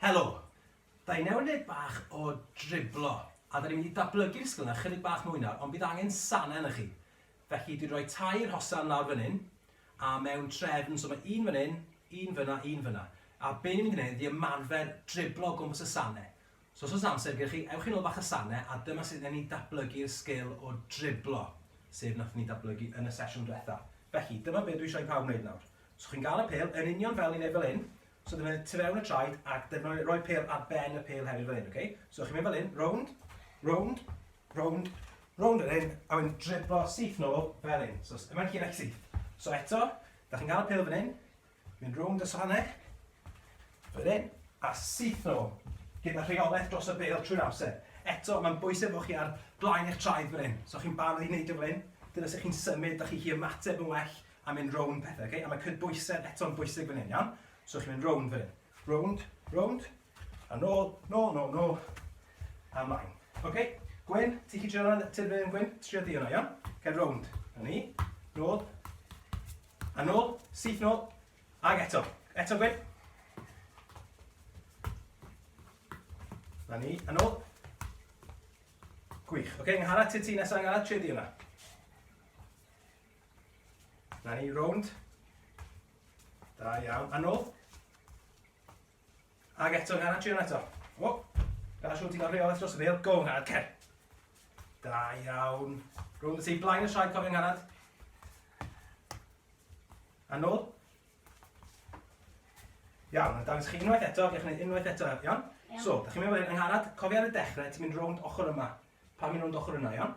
Helo! Daenewnyd bach o driblo, a da ni'n mynd i ddatblygu'r sgil yna chydig bach mwy nawr, ond bydd angen sanau yna chi. Felly dwi'n rhoi tair hosan lawr fan hyn, a mewn trefn, so mae un fan hyn, un fyna, un fyna. A be ni'n mynd i wneud ydy ymarfer driblo o gwmpas y sanau. So os oes amser gyda chi, ewch i nôl bach y sane a dyma sut wnawn ni datblygu'r sgil o driblo, sef wnaethon ni datblygu yn y sesiwn diwetha. Felly, dyma be dwi eisiau i pawb wneud nawr. So chi'n gael y pêl, yn union fel ni'n neud fel hyn, so dyna tu fewn y traed ac dyna roi pêl ar ben y pêl hefyd fel hyn, okay? So chi'n mynd fel hyn, rownd, rownd, rownd, rownd fel hyn, a wedyn driblo syth nôl fel hyn. So yma'n hyn ac syth. So eto, da chi'n gael y pêl fan hyn, Mynd rownd y sannau, fel hyn, a syth nhw, gyda rheolaeth dros y bêl trwy'r amser. Eto, mae'n bwysig bod chi ar blaen eich traed fel hyn. So chi'n barod i wneud e fel hyn, dyna sut chi'n symud, da chi chi ymateb yn well a mynd rownd pethau, okay? A mae cydbwysedd eto'n bwysig fan hyn, iawn? So chi'n mynd rownd fan hyn. Rownd, rownd, a nôl, nôl, nôl, nôl, a mlaen. Okay? Gwyn, ti chi trio hwnna, ti fan hyn, Gwyn? Trio di hwnna, iawn? Cael rownd. A ni, nôl, A nôl, syth nôl, ag eto. Eto Gwyn. Na ni, a nôl. Gwych. Oce, okay, nghara ti ti nesaf, nghara ti di yna. Na ni, rownd. Da iawn, a nôl. Ag eto, gan adrian eto. O, gan siwt i'n rheolaeth dros y bel. Go, Nghanad, cer. Da iawn. Rwy'n y ti, blaen y siai, cofio Nghanad. A nôl. Iawn, a dangos chi unwaith eto, gech wneud unwaith eto, iawn? So, da chi'n mynd fel hyn, yng Nghanad, cofio ar y dechrau, ti'n mynd rownd ochr yma. Pa mynd rownd ochr yna, iawn?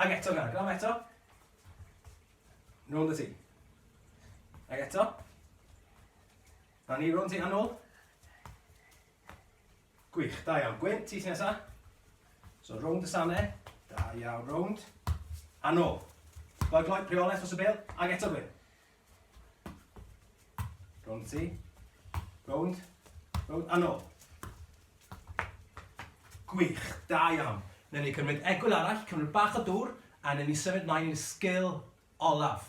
Ag eto nawr, gwnaf eto. Nôl y ti. Ag eto. A ni rôn ti a nôl. Gwych, da iawn. Gwyn, ti ti nesa. So rownd y sane. Da iawn, rownd. A nôl. Gloi, gloi, preolaeth os y bel. Ag eto Gwyn. Rownd ti. Rownd. Rownd. A nôl. Gwych. Da iawn. Newn ni cymryd egwyl arall, cymryd bach o dŵr, a newn ni symud mlaen i'r sgil olaf.